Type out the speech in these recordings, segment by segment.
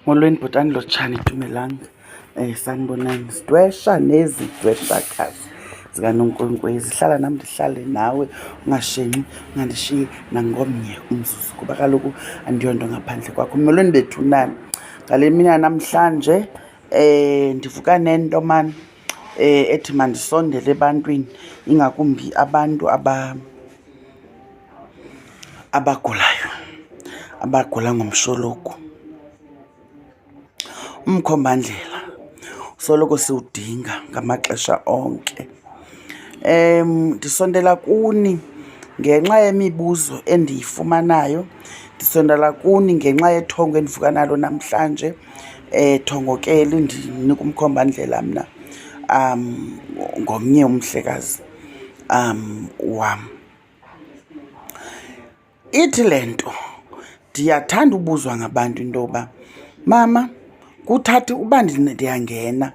Molweni bhotani lotshani dumelang um eh, sanibonani sidwesha nezi dweshakazi zikanonkwenkwezi hlala nam ndihlale nawe ungashenxi ungandishiyi nangomnye umzuzu kuba kaloku andiyonto ngaphandle kwakho molweni bethu nani ngale mini yanamhlanje um ndivuka nento mani um eh, ethi mandisondele ebantwini ingakumbi abantu aba abagulayo abagula ngomshologu umkhombandlela soloko siwudinga ngamaxesha onke um ndisondela kuni ngenxa yemibuzo endiyifumanayo ndisondela kuni ngenxa yethongo endivuka nalo namhlanje um thongokeli ndinika umkhombandlela mna um ngomnye umhlekazi um wam ithi le nto ndiyathanda ubuzwa ngabantu into yoba mama kuthatha uba ndiyangena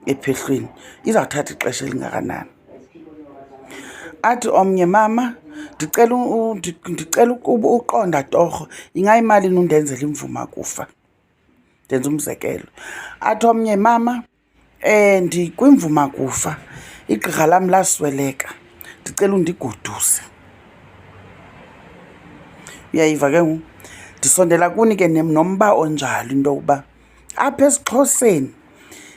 ephehlweni izawuthatha ixesha elingakanani athi omnye mama ndicela ndicela ukuba uqonda torho ingayimalini undenzela imvuma kufa ndenza umzekelo athi omnye mama Eh ndikwimvuma kufa. Igqirha lam lasweleka. Ndicela undigoduse. Uyayiva ke ngoku? Ndisondela kuni ke nomba onjalo into yokuba apha esiXhoseni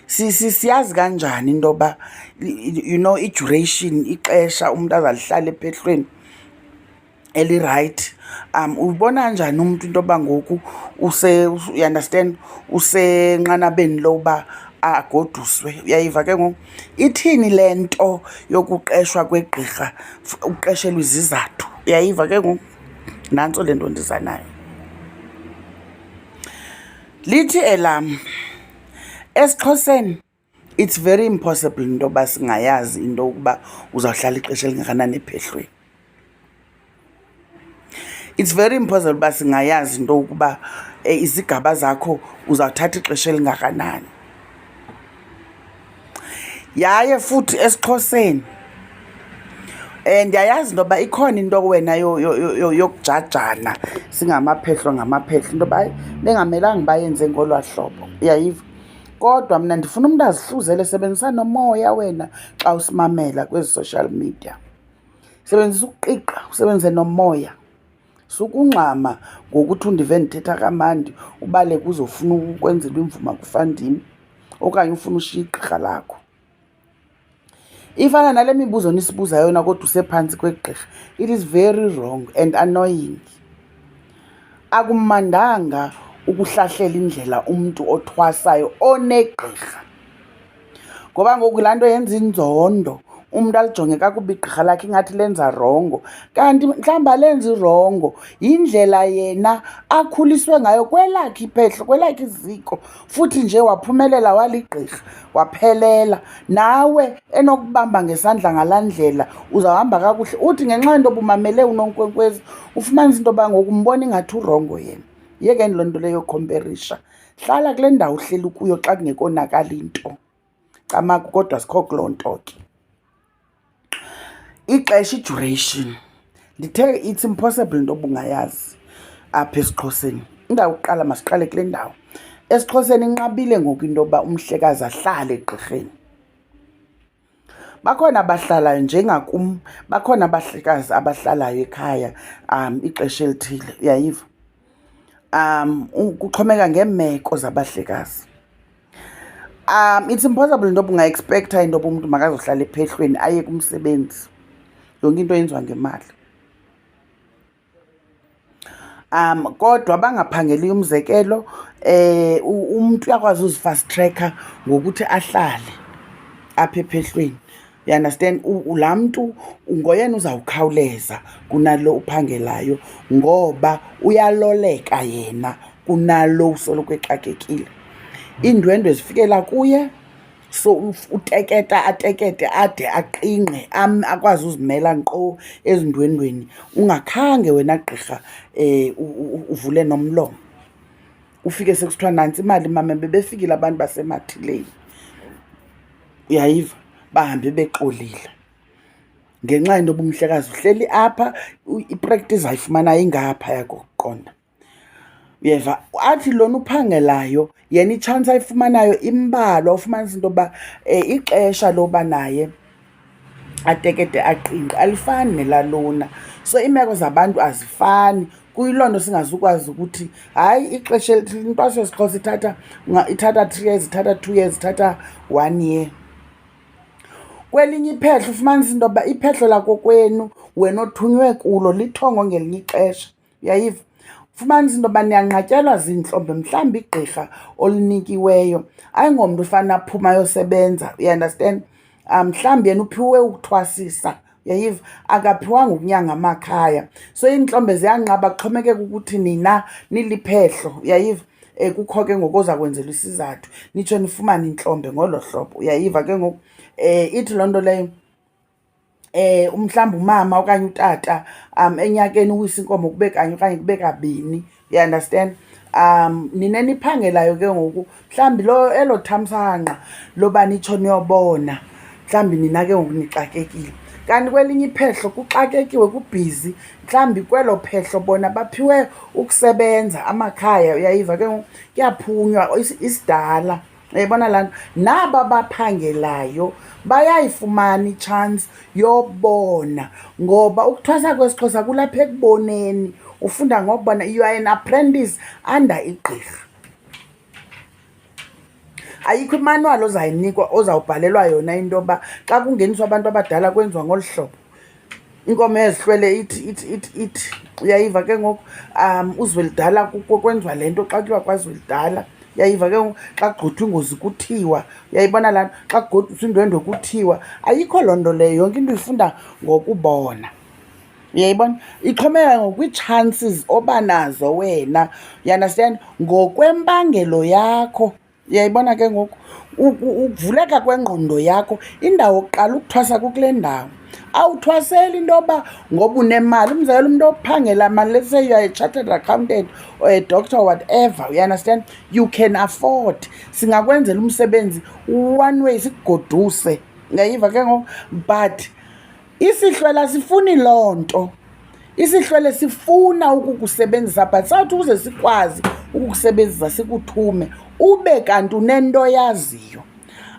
siyazi kanjani into yoba you know i-duration ixesha umntu azalihlala ephehlweni. elirayithi um ubona njani umntu into yoba ngoku use uyaunderstand usenqanabeni loba agoduswe uyayiva ke ngoku ithini le nto yokuqeshwa kwegqirha ukuqeshelwa izizathu uyayiva ke ngoku nantso le nto ndiza nayo lithi elam esixhoseni It's very impossible into yoba singayazi into yokuba uzawuhlala ixesha elingakanani ephehlweni. It's very impossible uba singayazi into yokuba eh, izigaba zakho uzawuthatha ixesha elingakanani. Yaye futhi esiXhoseni um ndiyayazi into yoba ikhona into wena yokujajana singamaphehlo ngamaphehlo into yoba bengamelanga bayenze ngolwaa hlobo uyayiva kodwa mna ndifuna umntu azihluzele sebenzisa nomoya wena xa usimamela kwezi social media sebenzisa ukuqiqa usebenzise nomoya sukungxama ngokuthi undive ndithetha kamandi ubale kuzofuna ukwenzelwa imvuma kufandini okanye ufuna ushiya igqirha lakho ifana nale mibuzo nisibuza yona kodwa usephantsi kwegqirha it is very wrong and annoying akumandanga ukuhlahlela indlela umntu othwasayo onegqirha ngoba ngoku laa nto yenza inzondo umntu alijonge kakubi igqirha lakhe ingathi lenza rongo kanti mhlawumbi alenzi rongo yindlela yena akhuliswe ngayo kwelakhe iphehlo kwelakhe iziko futhi nje waphumelela waligqirha waphelela nawe enokubamba ngesandla ngalaa ndlela uzawuhamba kakuhle uthi ngenxa yento obumamele unonkwenkwezi ufumanisa into yoba ngoku umbona ingathi urongo yena yekeni loo nto leyo khomperisha hlala kule ndawo uhleli kuyo xa kungekonakali nto camaku kodwa sikho kuloo nto ke ixesha i-duration ndithe it's impossible into obungayazi apha esiXhoseni indawo kuqala masiqale kule ndawo esiXhoseni inqabile ngoku into yoba umhlekazi ahlale egqirheni bakhona abahlalayo njengakum bakhona abahlekazi abahlalayo ekhaya um ixesha elithile uyayiva um kuxhomeka ngeemeko zabahlekazi um it's impossible into yoba ungaexpektha into yoba umntu makazohlala ephehlweni aye kumsebenzi yonke into yenziwa ngemali um kodwa bangaphangeliyo umzekelo eh umuntu uyakwazi uzifast tracker ngokuthi ahlale apha ephehlweni You understand? Laa mntu ngoyena uzawukhawuleza kunalo uphangelayo ngoba uyaloleka yena kunalo usoloko exakekile. Iindwendwe zifikela kuye so uteketa atekete ade aqingqe akwazi uzimela nkqo ezindwendweni ungakhange wena gqirha um uvule nomlomo. ufike sekusithiwa nantsi imali mama bebefikile abantu basemathileni uyayiva bahambe bexolile ngenxa yento yoba umhlekazi uhleli apha ipractice ayifumanayo ingapha yakokuqonda uyeva athi lona uphangelayo yena itshansi ayifumanayo imbalwa ufumanisa into yoba um ixesha loba naye atekete aqinqe alifani nelalona so iimeko zabantu azifani kuyiloo nto singazukwazi ukuthi hayi ixesha intwaso yesixhosa ithatha ithatha three years ithatha two years ithatha one year kwelinye iphehlo ufumanisa into yoba iphehlo lakokwenu wena othunywe kulo lithongo ngelinye ixesha uyayiva fumanisa into yoba niyanqatyelwa ziintlombe mhlawumbi igqirha olunikiweyo ayingomntu ufana aphuma ayosebenza uyaundastand um mhlawumbi yena uphiwe ukuthwasisa yayiva akaphiwanga ukunyanga amakhaya so iintlombe ziyanqaba kuxhomekeka ukuthi nina niliphehlo yayiva um eh, kukho ke ngoku oza kwenzelwa isizathu nitsho nifumane intlombe ngolo hlobo uyayiva ke ngoku um ithi loo nto leyo eh umhlawumbe umama okanye utata um enyakeni uwisa inkomo kube kanye okanye kube kabini you understand um nina niphangelayo ke ngoku mhlawumbi lo elo thamsanqa loba nitsho niyobona mhlawumbi nina ke ngoku nixakekile kanti kwelinye iphehlo kuxakekiwe kubhizi mhlawumbi kwelo phehlo bona baphiwe ukusebenza amakhaya uyayiva ke ngoku kuyaphunywa isidala yayibona laa nto naba baphangelayo bayayifumana itshansi yobona ngoba ukuthwasa kwesixhosa kulapha ekuboneni ufunda ngokubona you are an apprentice under igqirha ayikho imanwali ozayinikwa ozawubhalelwa yona into yoba xa kungeniswa abantu abadala kwenziwa ngolu hlobo inkomo ezihlwele ithi ithi ithi ithi uyayiva ke ngoku um uzwelidala kwenziwa le nto xa kuthiwa kwazwelidala uyayiva ke ngoku xa kugqothwa ingozi kuthiwa uyayibona laa nto xa kugqothwa indwendwe kuthiwa ayikho loo nto leyo yonke into uyifunda ngokubona uyayibona ixhomeka ngokwii-chances oba nazo wena you understand ngokwempangelo yakho Uyayibona ke ngoku ukuvuleka kwengqondo yakho indawo kuqala ukuthwasa kukule ndawo awuthwaseli into yoba ngoba unemali umzekela umntu ophangela mali let's say youare chartered accountant or a doctor or whatever you understand you can afford singakwenzela umsebenzi one way sikugoduse ngayiva ke ngoku but isihlwele asifuni loo nto isihlwele sifuna ukukusebenzisa but sawuthi ukuze sikwazi ukukusebenzisa sikuthume ube kanti unento yaziyo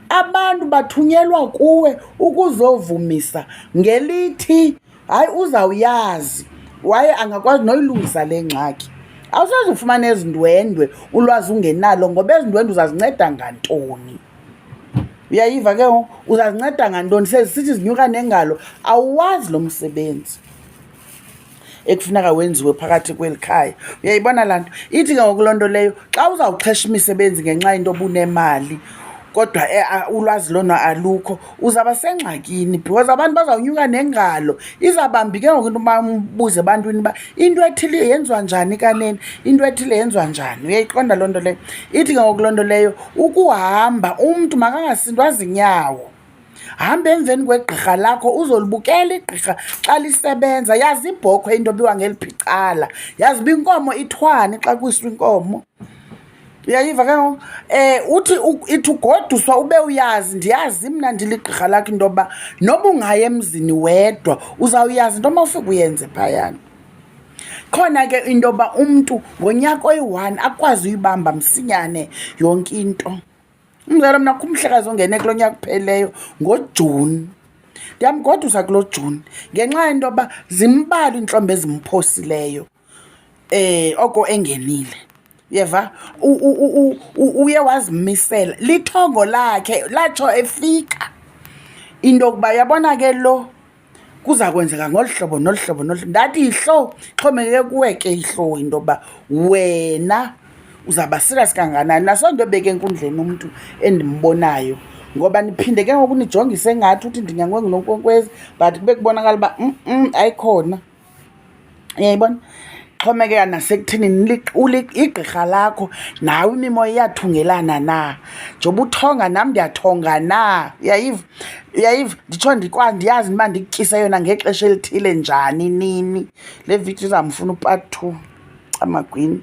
abantu bathunyelwa kuwe ukuzovumisa ngelithi hayi uzawuyazi waye angakwazi noyilungisa le ngxaki awusazi ufumana ezindwendwe ulwazi ungenalo ngoba ezindwendwe uzazinceda ngantoni uyayiva ke ngoku uzazinceda ngantoni sezisithi zinyuka nengalo awazi lo msebenzi ekufuneka wenziwe phakathi kweli khaya uyayibona laa nto ithi ke ngoku loo nto leyo xa uzawuxhesha imisebenzi ngenxa yento obunemali kodwa eh, ulwazi lona alukho uzaba sengxakini because abantu bazawunyuka nengalo izabambi ke ngoku into uba umbuze ebantwini uba into ethile yenziwa njani kaneni into ethile yenziwa njani uyayiqonda loo nto leyo ithi ke ngoku loo nto leyo ukuhamba umntu makangasindwa zinyawo hamba emveni kwegqirha lakho uzolibukela igqirha xa lisebenza yazi ibhokhwe into biwa ngeli phicala yazi uba inkomo ithwani xa kwiswa inkomo uyayiva ke ngoku um uthi ithi ugoduswa ube uyazi ndiyazi mna ndiligqirha lakho into yokuba noba ungayi emzini wedwa uzawuyazi into omawufika uyenze phayana khona ke into yoba umntu ngonyaka oyi-one akwazi uyibamba msinyane yonke into umzalo mna kumhlekazi ongene kulo nyaka uphelileyo ngojuni ndiyamgodusa kulo juni ngenxa yento yoba zimbalwa iintlombo ezimphosileyo eh oko engenile yeva uye wazimisela lithongo lakhe latsho efika into yokuba yabona ke lo kuza kwenzeka ngolu hlobo nolu hlobo nolu hlobo ndathi yihlo xhomekeke kuwe ke yihlo into yokuba wena uzawuba serious kanganani naso nto ebeke enkundleni umntu endimbonayo ngoba niphinde ke ngoku nijongise ngathi uthi ndinyangengunonkwenkwezi but kube kubonakala uba mm ayikhona uyayibona xhomekeka nasekuthenini igqirha lakho nawe imimoya iyathungelana na njengoba uthonga nam ndiyathonga na uyayiva uyayiva nditsho ndikwa ndiyazi uba ndikutyise yona ngexesha elithile njani nini le vidiyo izamfuna upart two amagwini